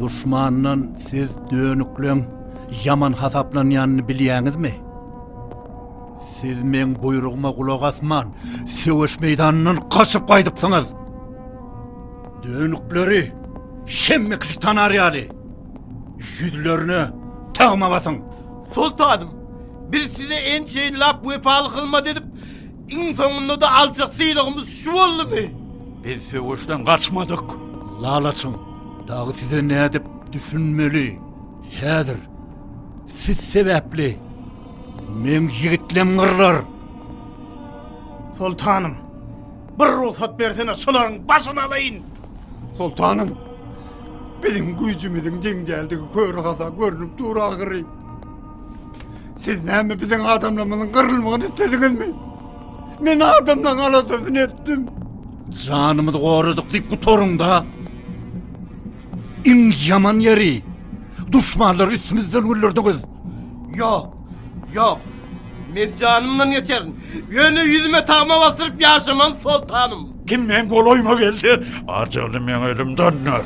Duşmandan siz dönükleň ýaman hasaplanýanyny bilýäňizmi? Siz meň buýrugyma gulak asman, söweş meýdanyndan gaçyp gaýdypsyňyz. Dönükleri şemme kişi tanar ýaly, ýüzlerine tagma basyň! Soltanym, biz size ençe ýyllap wepaly hyzmat edip, Iň soňunda-da aljak sylagymyz şu boldumy? Biz söweşden gaçmadyk. Lalaçyň dagy size nädip düşünmeli? Häzir siz sebäpli meň ýigitlem gyrlar. Soltanym, bir rugsat bersene, şolaryň başyny alaýyn. Soltanym, biziň güýjümiziň deň däldigi köre-hasa görnüp dur ahyry. Siz näme biziň adamlarymyzyň gyrylmagyny islediňizmi? Men adamlaryň aladasyny etdim. Janymyzy goradyk diýip gutaryňda. Iň ýaman ýeri duşmanlar üstümizden güllerdiňiz. Ýok, ýok. Men janymdan geçerin. Ýöne ýüzüme tagma basyryp ýaşaman soltanym. Kim meň golaýyma gelse, ajaly meň elimden döner.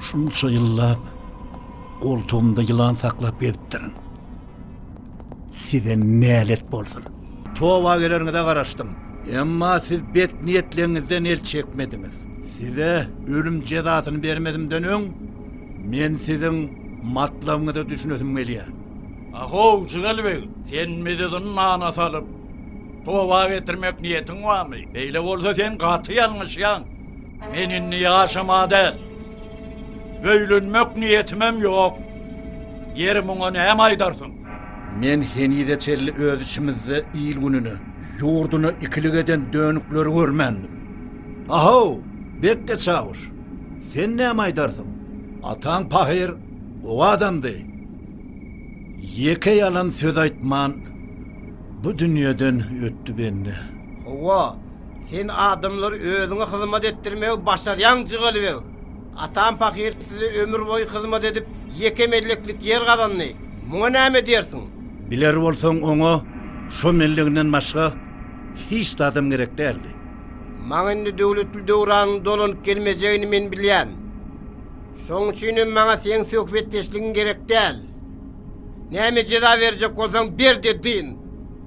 Şunça ýyllap goltugymda ýylan saklap gezipdirin. Size nälet bolsun! Toba geleniňize garaşdym. Emma siz bet niýetleňizden el çekmediňiz. Size ölüm jezasyny bermezimden öň, men siziň matlabyňyza düşünesim gelýär. Ahow, Jigel beg, sen bizi zyndana salyp, toba getirmek niýetiň barmy? Beýle bolsa, sen gaty ýalňyşýaň. Men indi ýaşama däl. Öýlenmek niýetimem ýok. Ýeri muňa näme aýdarsyň? Men henize çenli öz içimizde il-gününi, ýurduny ikilik eden dönükleri görmändim. A-how, bekge çawuş, sen näme aýdarsyň? Ataň pahyr, gowy adamdy. Ýeke ýalan söz aýtman, bu dünýeden ötdi bende. Hawa, Sen adamlary özüňe hyzmat etdirmegi başarýaň, Jygelibeg. Atam pahyr size ömür boýy hyzmat edip, ýeke melleklik ýer gazandy. Muňa näme diýersiň? Biler bolsaň, oňa şo melleginden başga hiç zadam gerek däldi. Maňa indi döwletli döwranyň dolanyp gelmejegini men bilýän. Şoň üçin hem maňa seň söhbetdeşligiň gerek däl. Näme jeza berjek bolsaň ber-de dyn!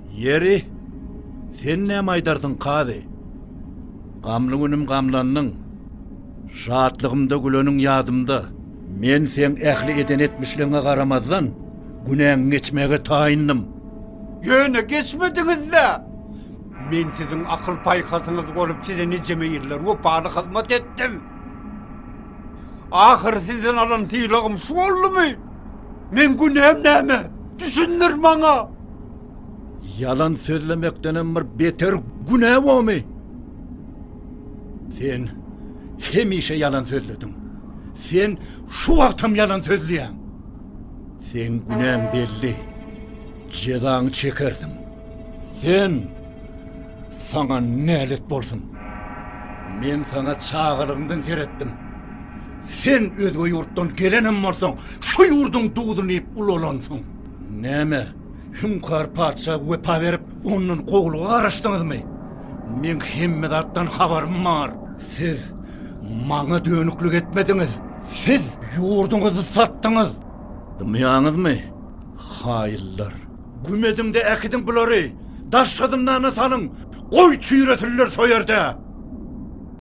Ýeri, sen näme aýdarsyň, kazy? Gamly günüm gamlandyň, şatlygymda güleniň ýadymda. Men seň ähli eden etmişligiňe garamazdan, günäňi geçmäge taýyndym. Ýöne geçmediňiz-dä! Men siziň akyl-paýhasyňyz bolup size nijeme ýyllar wepaly hyzmat etdim. Ahyry sizden alan sylagym şu boldumy? Meň günäm näme? Düşündir maňa! Ýalan sözlemekdenem bir beter günä bomy? Sen hemişe ýalan sözlediň. Sen şu wagtam ýalan sözleýäň. Sen günäň belli. Jezaňy çekersiň. Sen saňa nälet bolsun. Men saňa çagalygyňdan seretdim. Sen özge ýurtdan gelenem bolsaň, şu ýurduň duzuny iýip ulalansyň. Näme, Hüňkar patyşa wepa berip, ondan kowulga garaşdyňyzmy? Meň hemme zatdan habarym bar. Siz maňa dönüklik etmediňiz. Siz ýurduňyzy satdyňyz. Dymýaňyzmy, haýyllar? Güm ediň-de äkidiň bulary, daşky zyndana salyň, goý çüýresinler soýerde!